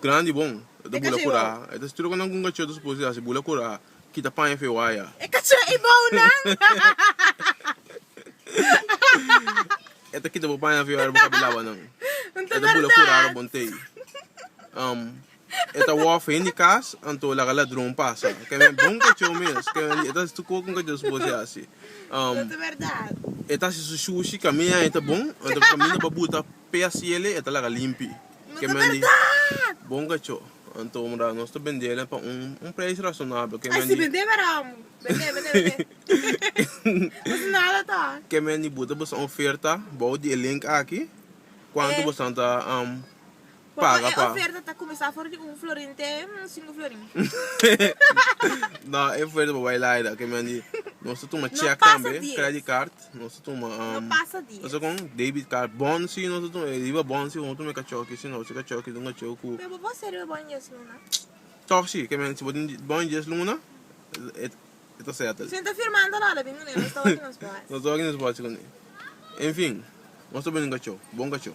Grandi bon. E ta bula kura. E ta stroka nan ku un kachotu supos di hasi. Bula kura. Kita paña fe waya. E ka tra e bounan. E ta kita bo paña fe ora bo kabi laba nan. E ta bula kura ora bon tei. E ta wòf hende kas anto laga ladron pasa. Ke men bon kachó mes. Ke men e ta stuko ku un kachotu supos di hasi. E ta hasi su shushi. Kaminda nan e ta bon. Anto kaminda bo buta. Pia siele e ta laga limpi. Ke mandi bon kacho. Anto mira nos ta bende nan pa un un preis rasonabel. Ke mandi. Ai si bende mira amo. Bende bende bende. Nos nada ta. Ke mandi bo ta basa un oferta bou di e link aki. Kuantu bosan ta paga pa. E oferta ta kumesa for di un florin te un sinku florin. No e oferta bo bai laida. Ke mandi nos ta tuma chek tambe, credit card. Nos ta tuma um. No pasa dies. Pasa con debit card. Bon si nos ta tuma. E riba bon si homo tuma e cachoki. Si no, si cachoki ta un cacheu cu. Pero bo por hasi e riba bon dies luna? Toch si. Ke men si bo tin bon dies luna, e, e ta settle. Sin ta firmando lo a la bin cu ne. Nos ta hopi nos por hasi. Nos ta hopi nos por hasi cu ne. Enfin, nos ta bini un cacheu. Bon cacheu.